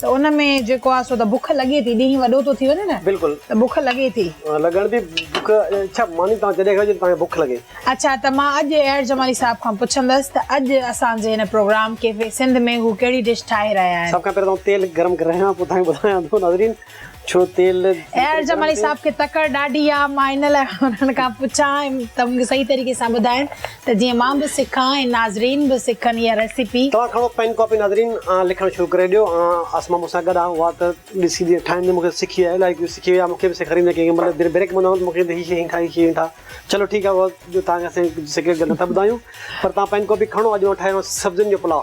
ته ان ۾ جيڪو آهي سو ته بک لڳي ٿي ڏينهن وڏو ٿو ٿي وڃي نه بلڪل ته بک لڳي ٿي. لڳڻ ٿي بک اڇا ماني توهان جڏهن کائو جڏهن توهان کي بک لڳي. اڇا ته مان اڄ ايئر جمالي صاحب کان پڇندس ته اڄ اسان جي هن پروگرام ڪيفي سنڌ ۾ هو ڪهڙي ڊش ٺاهي رهيا آهن. سڀ کان پهريان توهان تيل گرم ڪري رهيان پوء توهان کي ٻڌايان ٿو ناظرين. ڇو تيل ايئر جمالي صاحب کي تڪڙ ڏاڍي آ مان ان لاء انهن کان پڇان ته مون کي صحيح طريقي سان ٻڌائن ته جيئن مان به سکان ۽ ناظرين به سکن اها ريسيپي توهان کڻو پين ڪاپي ناظرين آن لکڻ شروع ڪري ڏيو آن اسما مون سان گڏ آ اها ته ڏسي جيئن ٺاهيندي مون کي سکي آ الائي ڪيئن سکي وئي آ مون کي به سيکاريندي ڪيئن مطلب جڏهن بريڪ پوندو آهيان ته مون کي هي شيء ائين ٺاهه هي شيء ائين ٺاهه چلو ٺيڪ آ اها توهان کي اسين سيڪريٽ ڳالهه نه ٿا ٻڌايون پر توهان پين ڪاپي کڻو اڄ مان ٺاهي رهيو آهيان سبزين جو پلاء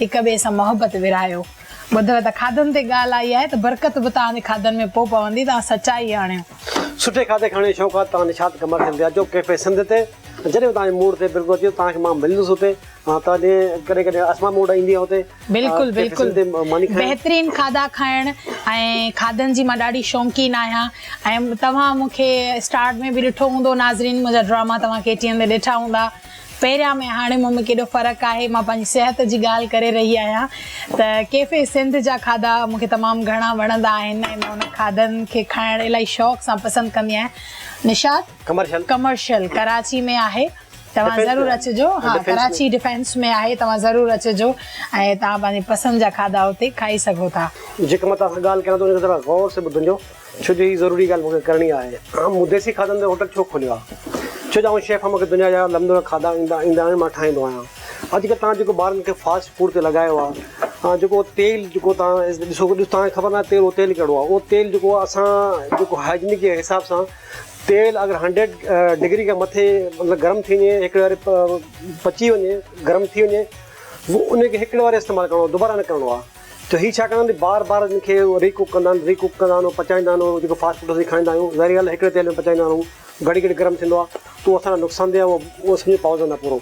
هڪ ٻئي سان محبت ورهايو. ٻڌو ته کاڌن تي ڳالهه آئي آهي ته برڪت به توهان جي کاڌن ۾ پوء پوندي توهان سچائي آڻيو. سٺي کاڌي کاڻي شوق آ ته توهان نشاط قمر کي ويجهو ڪيفي سنڌ تي جڏهن به توهان جي موڊ تي برڪت اچي توهان کي مان ملندس اتي توهان جي ڪڏهن ڪڏهن اسما موڊ ايندي آ اتي بلڪل بلڪل بهترين کاڌا کائڻ ۽ کاڌن جي مان ڏاڍي شونقين آهيان ۽ توهان مونکي اسٽارٽ ۾ به ڏٺو هوندو ناظرين منهنجا ڊراما توهان ڪي ٽي اين تي ڏٺا هوندا. پهريان ۾ هاڻي مون ۾ ڪيڏو فرق آهي مان پنهنجي صحت جي ڳالهه ڪري رهي آهيان ته ڪيفي سنڌ جا کاڌا مون کي تمام گهڻا وڻندا آهن ۽ مان انهن کاڌن کي کائڻ الائي شوق سان پسند ڪندي آهيان نشاد ڪمرشل ڪمرشل ڪراچي ۾ آهي توهان ضرور اچجو ها ڪراچي ڊفينس ۾ آهي توهان ضرور اچجو ۽ توهان پنهنجي پسند جا کاڌا اتي کائي سگهو ٿا جيڪڏهن مان توهان سان ڳالهه ڪريان ته ان کي ذرا غور سان ٻڌجو ڇو جو هي ضروري ڳالهه مون کي ڪرڻي آهي. عام مديسي کاڌن تي هوٽل ڇو کوليو آهي؟ ڇو جو آئون شيف آهيان مون کي دنيا جا لمدوڙا کاڌا ايندا ايندا آهن مان ٺاهيندو آهيان. اڄڪلهه توهان جيڪو ٻارن کي فاسٽ فوڊ تي لڳايو آهي جيڪو تيل جيڪو توهان ڏسو ڏسو توهان کي خبر ناهي تيل اهو تيل ڪهڙو آهي اهو تيل جيڪو آهي اسان جيڪو هائجنڪ جي حساب سان تيل اگر هنڊريڊ ڊگري کان مٿي مطلب گرم ٿي وڃي هڪڙي واري پچي وڃي گرم ٿي وڃي ان کي هڪڙي واري استعمال ڪرڻو دوباره نه ڪرڻو آهي. ته هي ڇا ڪندا آهن بار بار ان کي ري ڪوڪ ڪندا آهن ري ڪوڪ ڪندا آهن پچائيندا آهن اهو جيڪو فاسٽ فوڊ اسين کائيندا آهيون ظاهري ڳالهه هڪڙي تيل ۾ پچائيندا آهن اهو گهڙي گهڙي گرم ٿيندو آهي ته اهو اسان لاء نقصان دهه آهي اهو سمجهي پاوجو نه پورو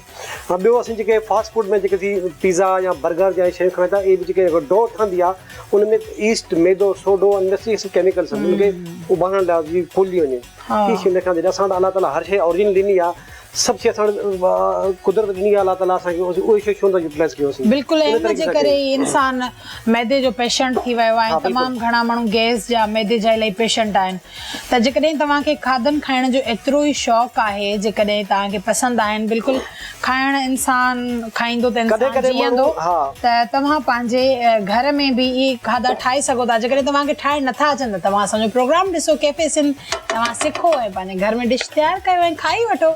۽ ٻيو اسين جيڪي فاسٽ فوڊ ۾ جيڪي ٿي پيزا يا برگر جا شيون کائون ٿا اهي به جيڪي ڊو ٺهندي آهي ان ۾ ايسٽ ميدو سوڊو ان ۾ سڀ ڪيميڪلس ان کي اڀارڻ لاء جي ڦولي وڃي ڪي شي نه کائڻ جڏهن اسان وٽ الله تعاليٰ هر شي اوريجنل ڏني آهي سڀ شيء اسان وٽ قدرت ڏني آهي الله تعاليٰ اسان کي اهي شيون ڇو نٿا يوٽيلائز ڪيون اسين. بلڪل ۽ ان جي ڪري ئي انسان معدي جو پيشنٽ ٿي ويو آهي ۽ تمام گهڻا ماڻهو گئس جا معدي جا الائي پيشنٽ آهن ته جيڪڏهن توهان کي کاڌن کائڻ جو ايترو ئي شوق آهي جيڪڏهن توهان کي پسند آهن بلڪل کائڻ انسان کائيندو ته انسان جيئندو ته توهان پنهنجي گهر ۾ به اهي کاڌا ٺاهي سگهو ٿا جيڪڏهن توهان کي ٺاهڻ نٿا اچن ته توهان اسان جو پروگرام ڏسو ڪيفي سنڌ توهان سکو ۽ پنهنجي گهر ۾ ڊش تيار ڪيو ۽ کائي وٺو.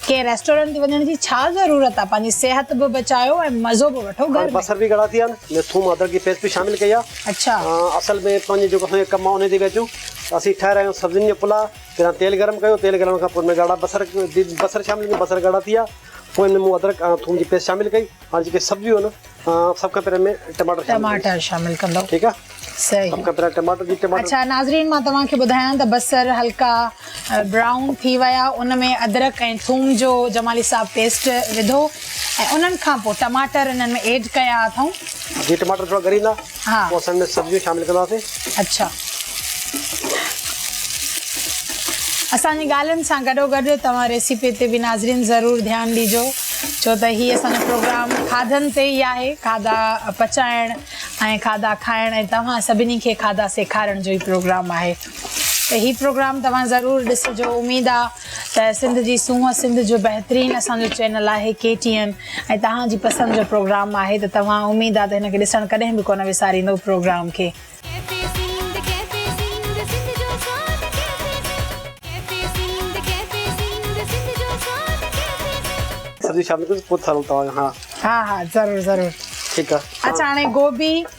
ڪنهن ريسٽورنٽ تي وڃڻ جي ڇا ضرورت آهي. پنهنجي صحت به بچايو ۽ مزو به وٺو گهر ۾. هاڻي بصر به ڳڙا ٿي ويا آهن. ۾ ٿوم ادرڪ جي پيسٽ به شامل ڪئي آهي. اڇا. اصل ۾ پنهنجي جيڪو اسان جو ڪم آهي انهي تي پيا اچون. اسين ٺاهي رهيا آهيون سبزين جو پلاء. پهريان تيل گرم ڪيو. تيل گرم کان پوء ان ۾ ڳاڙها بصر بصر شامل ڪيو. بصر ڳاڙها ٿي ويا. پوء ان ۾ مون ادرڪ ۽ ٿوم جي پيسٽ شامل ڪئي. هاڻي جيڪي سبزيون آهن. سڀ کان پهرين ۾ ٽماٽر شامل ٽماٽر شامل ڪندو ٺيڪ آ صحيح سڀ کان پهرين ٽماٽر جي ٽماٽر اڇا ناظرين مان توهان کي ٻڌايان ته بصر هلڪا برائون ٿي ويا ان ۾ ادرڪ ۽ ٿوم جو جمالي صاحب پيسٽ وڌو ۽ انهن کان پوء ٽماٽر انهن ۾ ايڊ ڪيا اٿئون جي ٽماٽر ٿورا ڳريندا ها پوء اسان ان ۾ سبزيون شامل ڪنداسين. اڇا اسان جي ڳالهين سان گڏو گڏ توهان ريسيپي تي به ناظرين ضرور ڌيان ڏيجو ڇو ته هي اسان جو پروگرام کاڌن تي ئي آهي کاڌا پچائڻ ۽ کاڌا کائڻ ۽ توهان سڀني کي کاڌا سيکارڻ جو ئي پروگرام آهي ته هي پروگرام توهان ضرور ڏسجو اميد آ ته سنڌ جي سونهن سنڌ جو بهترين اسان جو چينل آهي ڪي ٽي اين ۽ توهان جي پسند جو پروگرام آهي ته توهان اميد آ ته هن کي ڏسڻ ڪڏهن به ڪونه وساريندو پروگرام کي. سبزي شامل ڪريو پوء ٿا هلون توهان کان. ها ها ضرور ضرور. ٺيڪ آ. اچا هاڻي گوبي.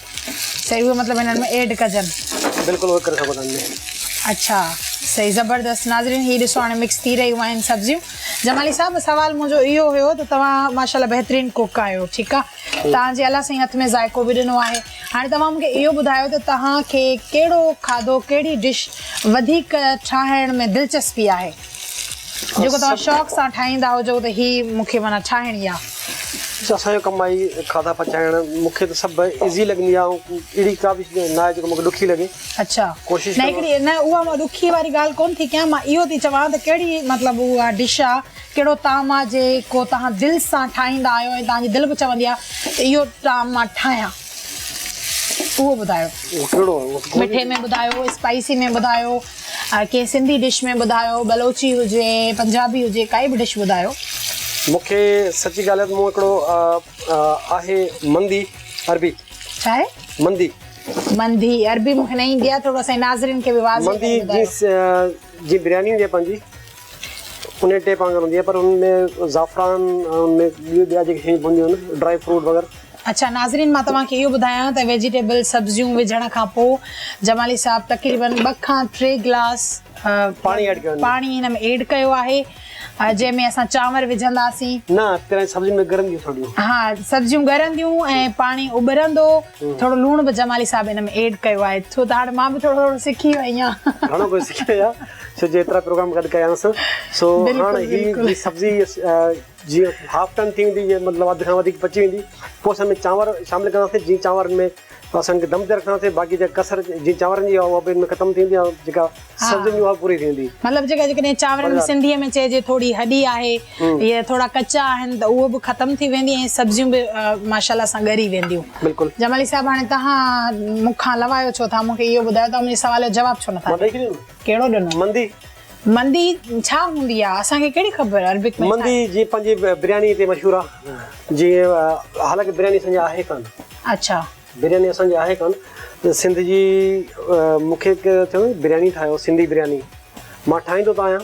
صحيح اهو مطلب هنن ۾ ايڊ ڪجن بلڪل اهو ڪري سگهو ٿا هن ۾ اڇا صحيح زبردست ناظرين هي ڏسو هاڻي مڪس ٿي رهيون آهن سبزيون جمالي صاحب سوال منهنجو اهو هيو ته توهان ماشاءالله بهترين ڪوڪ آهيو ٺيڪ آهي تان جي الله سائين هٿ ۾ ذائقو به ڏنو آهي هاڻي توهان مونکي اهو ٻڌايو ته توهان کي ڪهڙو کاڌو ڪهڙي ڊش وڌيڪ ٺاهڻ ۾ دلچسپي آهي جيڪو توهان شوق سان ٺاهيندا هجو ته هي مون کي معنيٰ ٺاهڻي آ. اسان جو ڪم آهي کاڌا پچائڻ مون کي ته سڀ ايزي لڳندي آ اهڙي ڪا به شيء ناهي جيڪو مون کي ڏکي لڳي اڇا ڪوشش نه هڪڙي نه اها مان ڏکي واري ڳالهه ڪون ٿي ڪيان مان اهو ٿي چوان ته ڪهڙي مطلب اها ڊش آ ڪهڙو طعام آ جيڪو توهان دل سان ٺاهيندا آهيو ۽ توهان جي دل به چوندي آ ته اهو طعام مان ٺاهيان. اهو ٻڌايو مٺي ۾ ٻڌايو اسپائسي ۾ ٻڌايو ڪنهن سنڌي ڊش ۾ ٻڌايو بلوچي هجي پنجابي هجي ڪائي به ڊش ٻڌايو مونکي سچي ڳالهه مون هڪڙو آهي مندي عربي ڇا آهي مندي مندي عربي مونکي نه ايندي آهي ٿورو اسان ناظرين کي به واضح مندي جي جي برياني هوندي آهي پنهنجي انهي ٽيپ وانگر هوندي آهي پر ان ۾ زعفران ان ۾ ٻيون ٻيا جيڪي شيون پونديون آهن ڊرائي فروٽ وغيره. اڇا ناظرين مان توهان کي اهو ٻڌايان ته ويجيٽيبل سبزيون وجهڻ کان پو جمالي صاحب تقريبن ٻه کان ٽي گلاس پاڻي هن ۾ ايڊ ڪيو آهي جنهن ۾ اسان چانور وجهنداسين نه پهرين سبزين ۾ ڳرنديون ٿورڙيون ها سبزيون ڳرنديون ۽ پاڻي اٻرندو ٿورڙو لوڻ به جمالي صاحب هن ۾ ايڊ ڪيو آهي ڇو ته هاڻ مان به ٿورڙو ٿورڙو سکي وئي آهيان گهڻو ڪجهه سکي وئي آهيان. سج ايترا پروگرام گڏ ڪيانس سو هاڻ هي جي سبزي جي هاف ٽن ٿي ويندي جي مطلب اڌ کان وڌيڪ پچي ويندي پوء اسان ۾ چانور شامل ڪندا سي جي چانور ۾ اسان کي دم تي رکندا سي باقي جي ڪسر جي چانور جي هو به ختم ٿي ويندي جيڪا سبزي جي هو پوري ٿي ويندي مطلب جيڪا جي ڪني چانور سنڌي ۾ چئجي ٿوري هڏي آهي اهي ٿورا ڪچا آهن ته اهي به ختم ٿي ويندي ۽ سبزيون به ماشاء الله سان ڳري وينديون بلڪل جمالي صاحب هاڻي تهان مون کان لوايو ڇو ٿا مون کي اهو ٻڌايو تهان منهنجي سوال جو جواب ڇو نٿا ڏيو ڪهڙو ڏنو مندي مندي ڇا هوندي آهي اسان کي ڪهڙي خبر عربڪ ۾ مندي جي پنهنجي برياني تي مشهور آهي جي حالانڪه برياني اسان جي آهي ڪان اڇا برياني اسان جي آهي ڪان سنڌ جي مون کي ڪنهن چيو برياني ٺاهيو سنڌي برياني مان ٺاهيندو ته آهيان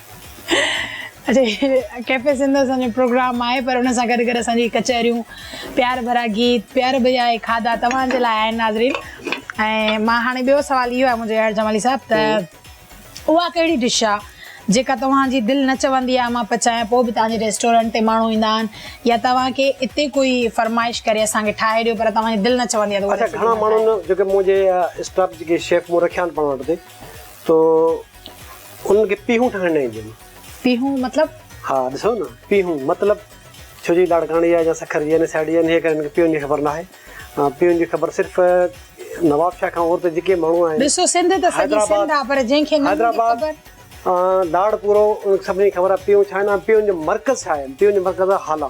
ڪيفي سنڌ اسان جو پروگرام آهي پر ان سان گڏ گڏ اسان جي ڪچهريون پيار ڀرا گيت پيار ڀريا اهي کاڌا توهان جي لاء آهن ناظرين ۽ مان هاڻي ٻيو سوال اهو آهي منهنجو اياز جمالي صاحب ته اها ڪهڙي ڊش آهي جيڪا توهان جي دل نه چوندي آهي مان پچايان پوء به توهان جي ريسٽورنٽ تي ماڻهو ايندا آهن يا توهان کي اتي ڪوئي فرمائش ڪري اسان کي ٺاهي ڏيو پر توهان جي دل نه چوندي آهي ته اها ڪهڙي ڊش آهي اها ڪهڙي ڊش آهي تو انهن کي پيهون ٺاهڻ نه اينديون. پيهون مطلب؟ ها ڏسو نه پيهون مطلب ڇو جي لاڙڪاڻي جا يا سکر جي يا سياڙي جا آهن ان ڪري هنن کي پيهون جي خبر ناهي پيهون جي خبر صرف نواب شاهه کان اور ته جيڪي ماڻهو آهن ڏسو سنڌ ته سڄي سنڌ آهي پر جنهن کي نه هوندي خبر. لاڙ پورو ان کي سڀني کي خبر آهي پيهون ڇا آهن ۽ پيهون جو مرڪز ڇا آهي پيهون جو مرڪز آهي هالا.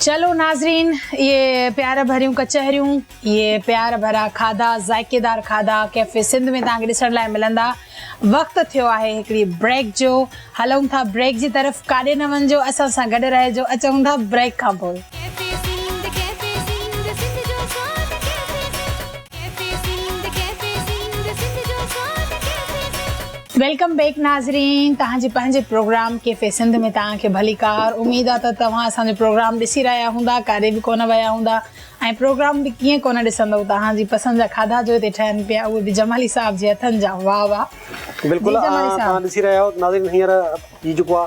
چلو ناظرين اهي پيار ڀريون ڪچهريون اهي پيار ڀرا کاڌا ذائقيدار کاڌا ڪيفي سنڌ ۾ توهان کي ڏسڻ لاء ملندا وقت ٿيو آهي هڪڙي بريڪ جو هلون ٿا بريڪ جي طرف ڪاڏي نه وڃجو اسان سان گڏ رهجو اچون ٿا بريڪ کان پوء ويلڪم بيڪ ناظرين توهان جي پنهنجي پروگرام ڪيفي سنڌ ۾ توهان کي ڀليڪار اميد آ ته توهان اسان جو پروگرام ڏسي رهيا هوندا ڪاڏي به ڪونه ويا هوندا ۽ پروگرام به ڪيئن ڪونه ڏسندو توهان جي پسند جا کاڌا جو هتي ٺهن پيا اهي به جمالي صاحب جي هٿن جا واه واه بلڪل توهان ڏسي رهيا آهيو ناظرين هينئر هي جيڪو آ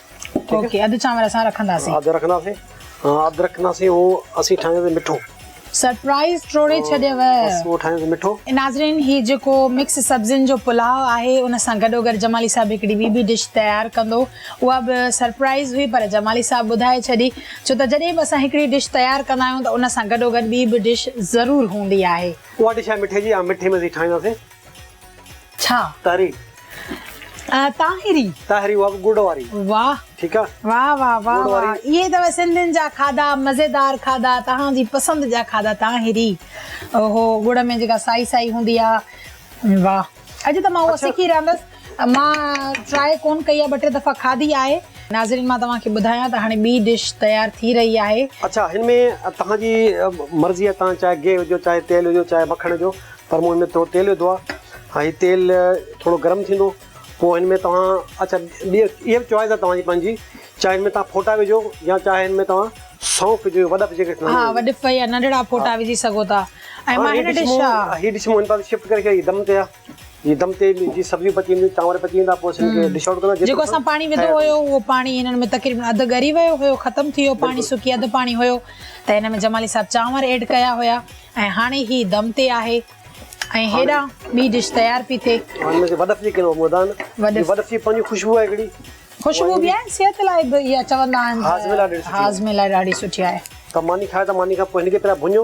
اوڪي اڌ چانور اسان رکنداسين اڌ رکنداسين ها اڌ رکنداسين هو اسين ٺاهينداسين مٺو سرپرائز ٽوڙي ڇڏيو بس هو ٺاهينداسين مٺو ناظرين هي جيڪو مڪس سبزين جو پلاء آهي ان سان گڏو گڏ جمالي صاحب هڪڙي ٻي به ڊش تيار ڪندو اها به سرپرائز هئي پر جمالي صاحب ٻڌائي ڇڏي ڇو ته جڏهن به اسان هڪڙي ڊش تيار ڪندا آهيون ته ان سان گڏو گڏ ٻي به ڊش ضرور هوندي آهي اها ڊش آهي مٺي جي ها مٺي ۾ اسين ٺاهينداسين ڇا؟ تاهري. طاهري. طاهري اها به ڳڙ واري. واهه. ٺيڪ آ. واهه واهه واهه واهه اهي اٿو سنڌين جا کاڌا مزيدار کاڌا توهان جي پسند جا کاڌا طاهري اوهو ڳڙ ۾ جيڪا سائي سائي هوندي آ واهه اڄ ته مان اهو سکي رهندس مان ٽرائي ڪون ڪئي آهي ٻه ٽي دفعا کاڌي آهي. ناظرين مان توهان کي ٻڌايان ته هاڻي ٻي ڊش تيار ٿي رهي آهي. اڇا هن ۾ توهان جي مرضي آهي توهان چاهي گيهه وجهو چاهي تيل وجهو چاهي مکڻ وجهو پر مون هن ۾ ٿورو تيل وڌو آهي ۽ هي تيل ٿورو گرم ٿيندو پوء هن ۾ توهان اڇا ٻي اها به چوائز آهي توهان جي پنهنجي چاهي هن ۾ توهان ڦوٽا وجهو يا چاهي هن ۾ توهان سونف وجهو وڏف جيڪي ٿيندا آهن ها وڏف يا ننڍڙا ڦوٽا وجهي سگهو ٿا ۽ مان هن ڊش ها هي ڊش مون هن پاسي شفٽ ڪري ڇڏي دم تي آهي. جي دم تي جي سبزيون پچي وينديون، چانور پچي ويندا، پوء اسين کي ڊش آئوٽ ڪرڻو. جيڪو اسان پاڻي وڌو هيو، اهو پاڻي هنن ۾ تقريبن اڌ ڳري ويو هيو، ختم ٿي ويو پاڻي، سڪي اڌ پاڻي هيو ته هن ۾ جمالي صاحب چانور ايڊ ڪيا هيا ۽ هاڻي هي دم تي آهي ۽ هيڏانهن ٻي ڊش تيار پي ٿئي. هن ۾ وڏف جي ڪينو مودا آهن. وڏف جي پنهنجي خوشبو آهي هڪڙي. خوشبو به آهي، صحت لاء به اها چوندا آهن ته هاضمي لاء ڏاڍي سٺي آهي. هاضمي لاء ڏاڍي سٺي آهي. ته ماني کائي ته ماني کان پوء هن کي پهريان ڀڃو.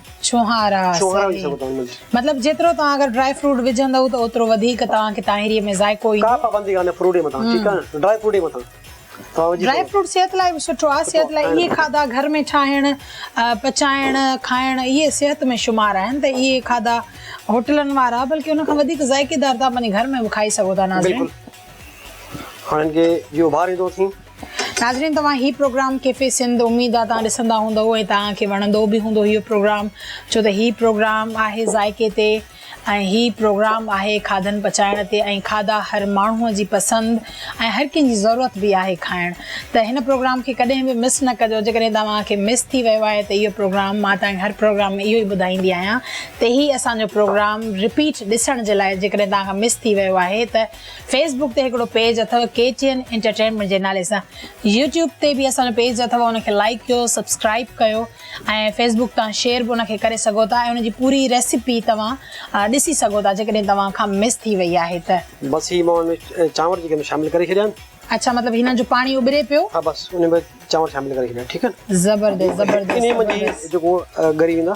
ڇوهارا مطلب جيترو توهان اگر ڊرائي فروٽ وجهندو ته اوترو وڌيڪ توهان کي تاهيري ۾ ذائقو ايندو ڪا پابندي ڪانهي فروٽ مٿان ٺيڪ آهي نه ڊرائي فروٽ مٿان ڊرائي فروٽ صحت لاء به سٺو آهي صحت لاء اهي کاڌا گهر ۾ ٺاهڻ پچائڻ کائڻ اهي صحت ۾ شمار آهن ته اهي کاڌا هوٽلن وارا بلڪ ان کان وڌيڪ ذائقيدار تان پنهنجي گهر ۾ به کائي سگهو ٿا ناظرين هاڻي ان کي جيئن اڀاري ٿو سين ناظرين توهان هي پروگرام ڪيفي سنڌ اميد آ توهان ڏسندا هوندئو ۽ توهان کي وڻندو به هوندو هيو پروگرام ڇو ته هي پروگرام آهي ذائقي تي ۽ هي پروگرام آهي کاڌن پچائڻ تي ۽ کاڌا هر ماڻهو جي پسند ۽ هر ڪنهن جي ضرورت به آهي کائڻ ته هن پروگرام کي ڪڏهن به مس نه ڪجو جيڪڏهن توهان کي مس ٿي ويو آهي ته اهو پروگرام مان توهان کي هر پروگرام ۾ اهو ئي ٻڌائيندي آهيان ته هي اسان جو پروگرام رپيٽ ڏسڻ جي لاء جيڪڏهن توهان کان مس ٿي ويو آهي ته فيس بوڪ تي هڪڙو پيج اٿو ڪي ٽي اين انٽرٽينمينٽ جي نالي سان يوٽيوب تي به اسان جو پيج اٿو ان کي لائيڪ ڪيو سبسڪرائيب ڪيو ۽ فيس بوڪ تان شيئر به ان کي ڪري سگهو ٿا ۽ ان جي پوري ريسيپي توهان ڏسي سگهو ٿا جيڪڏهن توهان کان مس ٿي وئي آهي ته بس هي مان چانور جيڪي شامل ڪري ڇڏيا آهن. اڇا مطلب هنن جو پاڻي اٻري پيو. ها بس انهي ۾ چانور شامل ڪري ڇڏيا ٺيڪ آهن. زبردست زبردست زبردست. انهي منجهه جيڪو ڳري ويندا.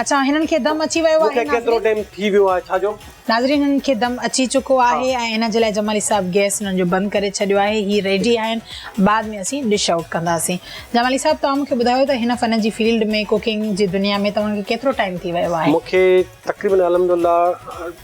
اچان هنن کي دم اچي ويو آهي مونکي ڪيترو ٽيم ٿي ويو آهي ڇا جو. ناظرين هنن کي دم اچي چڪو آهي ۽ ان جي لاء جمالي صاحب گيس هنن جو بند ڪري ڇڏيو آهي هي ريڊي آهن بعد ۾ اسين ڊش آئوٽ ڪنداسين جمالي صاحب توهان مونکي ٻڌايو ته هن فن جي فيلڊ ۾ ڪوڪنگ جي دنيا ۾ توهان کي ڪيترو ٽائيم ٿي ويو آهي مونکي تقريبن الحمدلله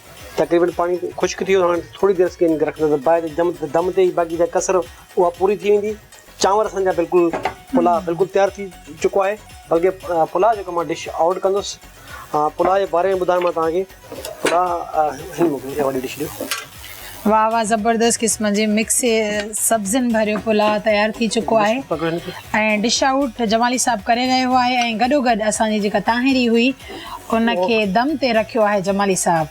تقريبن پاڻي خشڪ ٿي ويو هاڻي ٿوري دير سڪين کي رکندس ته باهه جي دم تي ئي باقي جا ڪسر اها پوري ٿي ويندي چانور اسان جا بلڪل پلاء بلڪل تيار ٿي چڪو آهي بلڪه پلاء جيڪو مان ڊش آئوٽ ڪندس پلاء جي باري ۾ ٻڌايو مان توهان کي پلاء هي موڪلي ڏي وڏي ڊش ڏيو واه واه زبردست قسم جي مڪس سبزين ڀريو پلاء تيار ٿي چڪو آهي ۽ ڊش آئوٽ جمالي صاحب ڪري رهيو آهي ۽ گڏو گڏ اسان جي جيڪا تاهيري هئي ان کي دم تي رکيو آهي جمالي صاحب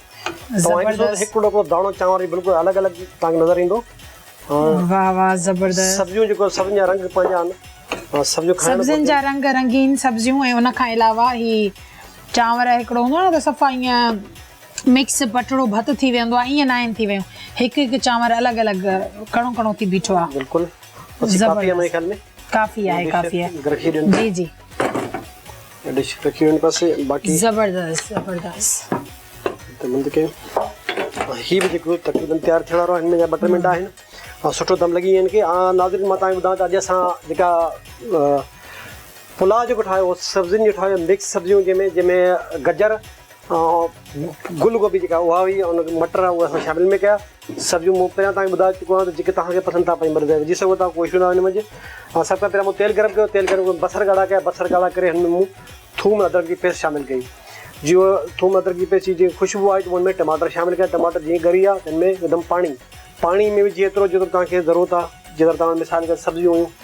زبردست هڪ ٽوڪرو داڻو چانور جي بلڪل الڳ الڳ تانکي نظر ايندو واه واه زبردست سبزيون جيڪو سبزين جا رنگ پنهنجا آهن سبزيون کائڻ سبزين جا رنگ رنگين سبزيون ۽ ان کان علاوه هي چانور هڪڙو هوندو آهي نه ته صفا ائين مڪس پٽڙو ڀت ٿي ويندو آ ايئن ناهن ٿي ويون هڪ هڪ چانور الڳ الڳ ڪڻو ڪڻو ٿي بيٺو آ بلڪل بس ڪافي آ ماهي خيال ۾ ڪافي آهي ڪافي آهي جي جي ڊش رکي وين بس باقي زبردست زبردست ته مند کي هي به جيڪو تقريبا تيار ٿيڻ وارو آهن جا ٻه ٽي منٽ آهن ۽ سٺو دم لڳي وين کي آ ناظرين مان تانکي ٻڌان ته اڄ اسان جيڪا پلاء جيڪو ٺاهيو سبزين جو ٺاهيو مڪس سبزيون جنهن ۾ جنهن ۾ گجر گل گوبي جيڪا اها هئي ان کي مٽر اهي اسان شامل ۾ ڪيا سبزيون مون پهريان تائين ٻڌائي چڪو آهيان جيڪي توهان کي پسند ٿا پئي مطلب وجهي سگهو ٿا ڪو اشو ناهي ان منجهه ۽ سڀ کان پهريان مون تيل گرم ڪيو تيل گرم بصر ڳاڙها ڪيا بصر ڳاڙها ڪري هن ۾ مون ٿوم ادرڪ جي پيسٽ شامل ڪئي جي هو ٿوم ادرڪ جي پيسٽ جي خوشبو آئي ته هن ۾ ٽماٽر شامل ڪيا ٽماٽر جيئن ڳري ويا تن ۾ هڪدم پاڻي پاڻي ۾ وجهي ايترو جيترو توهان کي ضرورت آهي جيڪر توهان مثال ڪري سبزيون هيون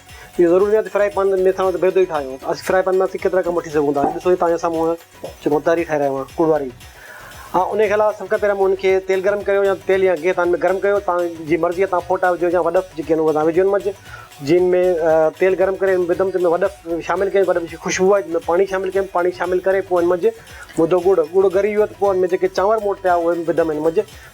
اهو ضروري ناهي ته فرائي پان ۾ ٿانو ته بيضو ئي ٺاهيون. اسين فرائي پان مان اسين ڪيترا ڪم وٺي سگهون ٿا. هي ڏسو هي توهان جي سامهون هن جيڪو متاري ٺاهي رهيو آهيان ڪوڙ واري. ها ان کي علاوه سڀ کان پهريان مون هن کي تيل گرم ڪيو يا تيل يا گيهه تان ۾ گرم ڪيو توهان جي مرضي آهي توهان ڦوٽا وجهو يا وڏف جيڪي آهن اهي توهان وجهو ان مجهه جن ۾ تيل گرم ڪري ان ۾ وڌم تن ۾ وڏف شامل ڪيم وڏف جي خوشبو آئي تن ۾ پاڻي شامل ڪيم پاڻي شامل ڪري پوء ان مجهه وڌو ڳڙ ڳڙ ڳري ويو ته پوء ان ۾ جيڪي چانور مون وٽ پيا هئا اهي وڌم ان مجهه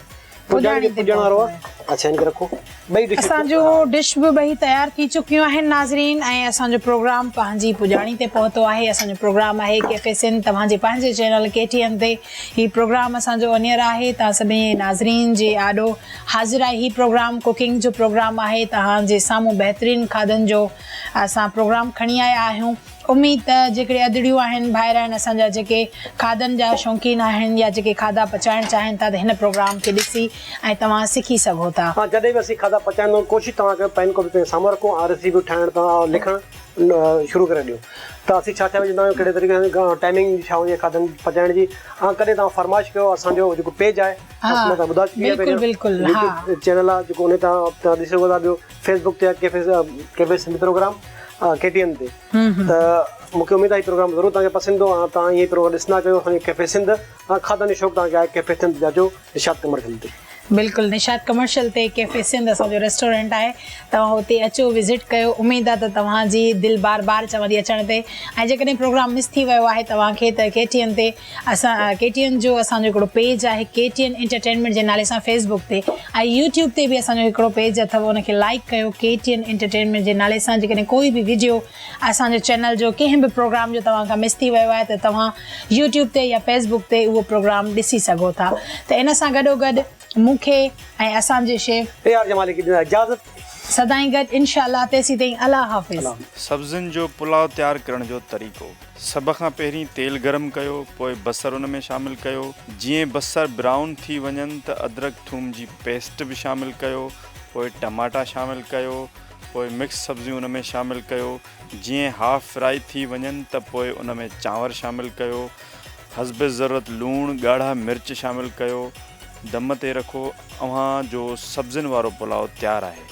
پڄاڻي تي پهتو آهي. اسان جون ڊش به ٻئي تيار ٿي چڪيون آهن ناظرين ۽ اسان جو پروگرام پنهنجي پڄاڻي تي پهتو آهي. اسان جو پروگرام آهي ڪيفي سنڌ توهان جي پنهنجي چينل ڪي ٽي اين تي هي پروگرام اسان جو آن ايئر آهي توهان سڀني ناظرين جي آڏو حاضر آهي هي پروگرام ڪوڪنگ جو پروگرام آهي توهان جي سامهون بهترين کاڌن جو اسان پروگرام کڻي آيا آهيون. اميد ته جيڪڏهن ادڙيون آهن، ڀائر آهن اسان جا جيڪي کاڌن جا شوقين آهن يا جيڪي کاڌا پچائڻ چاهين ٿا ته هن پروگرام کي ڏسي ۽ توهان سکي سگهو ٿا. هان جڏهن به اسين کاڌا پچائيندون ڪوشش توهان ڪيو پين ڪاپي پنهنجي سامهون رکون ۽ ريسيپيون ٺاهڻ تان لکڻ شروع ڪري ڏيو ته اسين ڇا ڇا وجهندا آهيون ڪهڙي طريقي سان ڪا ٽائمنگ ڇا هوندي آهي کاڌن پچائڻ جي هان ڪڏهن توهان فرمائش ڪيو اسان جو جيڪو پيج آهي اسان مان ٻڌا چڪي آهي پهريان يوٽيوب چينل آهي جيڪو ان تان ڏسي سگهو ٿا ٻيو فيس بڪ تي cafe cafe Sindhi programme K T N تي ته مون کي اميد آهي پروگرام ضرور تان پسند ايندو ۽ تان هي پروگرام ڏسندا ڪيو اسان جو ڪيفي سنڌ ۽ کاڌن جو شوق تان کي آهي ڪيفي سنڌ جاجو نشاد ڪمرشل تي بلڪل نشاد ڪمرشل تي ڪيفي سنڌ اسان جو ريسٽورنٽ آهي توهان هتي اچو وزٽ ڪيو اميد آهي ته توهان جي دل بار بار چوندي اچڻ تي ۽ جيڪڏهن پروگرام مس ٿي ويو آهي توهان کي ته ڪي ٽي اين تي اسان ڪي ٽي اين جو اسان جو هڪڙو پيج آهي ڪي ٽي اين انٽرٽينمينٽ جي نالي سان فيس بڪ تي ۽ يوٽيوب تي به اسان جو هڪڙو پيج اٿو ان کي لائڪ ڪيو ڪي ٽي اين انٽرٽينمينٽ جي نالي سان جيڪڏهن ڪوئي به ويڊيو اسان جو چينل جو ڪنهن به پروگرام جو توهان کان مس ٿي ويو آهي ته توهان يوٽيوب تي يا فيس بڪ تي اهو پروگرام ڏسي سگهو ٿا ته ان سان گڏو گڏ مون کي ۽ اسان جي شيف اي آر جمالي کي ڏيو اجازت. سدائين گڏ انشاء الله تيسين تائين الله حافظ. سبزين جو پلاء تيار ڪرڻ جو طريقو. سڀ کان پهرين تيل گرم ڪيو پوء بصر ان ۾ شامل ڪيو جيئن بصر برائون ٿي وڃن ته ادرڪ ٿوم جي پيسٽ به شامل ڪيو پوء ٽماٽا شامل ڪيو پوء مڪس سبزيون ان ۾ شامل ڪيو جيئن هاف فرائي ٿي وڃن ته پوء ان ۾ چانور شامل ڪيو حسب ضرورت لوڻ ڳاڙها مرچ شامل ڪيو دم تي رکو اوهان جو سبزين وارو پلاء تيار آهي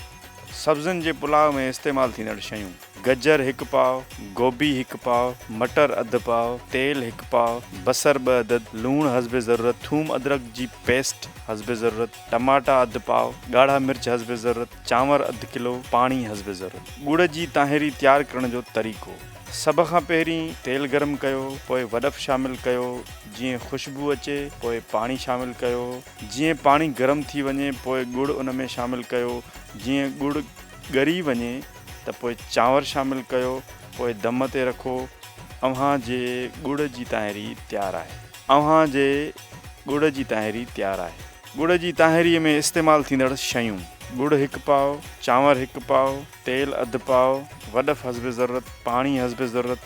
سبزين جي پلاء ۾ استعمال ٿيندڙ شيون. گجر هڪ پاء، گوبي هڪ پاء، مٽر اڌ پاء، تيل هڪ پاء، بصر ٻه عدد، لوڻ حسب ضرورت، ٿوم ادرڪ جي پيسٽ حسب ضرورت، ٽماٽا اڌ پاء، ڳاڙها مرچ حسب ضرورت، چانور اڌ ڪلو، پاڻي حسب ضرورت. ڳڙ جي طاهري تيار ڪرڻ جو طريقو، سڀ کان پهرين تيل گرم ڪيو پوء وڏف شامل ڪيو جيئن خوشبو اچي پوء پاڻي شامل ڪيو جيئن پاڻي گرم ٿي وڃي پوء ڳڙ ان ۾ شامل ڪيو جيئن ڳڙ ڳري وڃي ته پوء چانور شامل ڪيو پوء دم تي رکو اوهان جي ڳڙ جي تاهيري تيار آهي. اوهان جي ڳڙ جي تاهيري تيار آهي. ڳڙ جي تاهيري ۾ استعمال ٿيندڙ شيون، ڳڙ هڪ پاء، چانور هڪ پاء، تيل اڌ پاء، وڏف حسب ضرورت، پاڻي حسب ضرورت،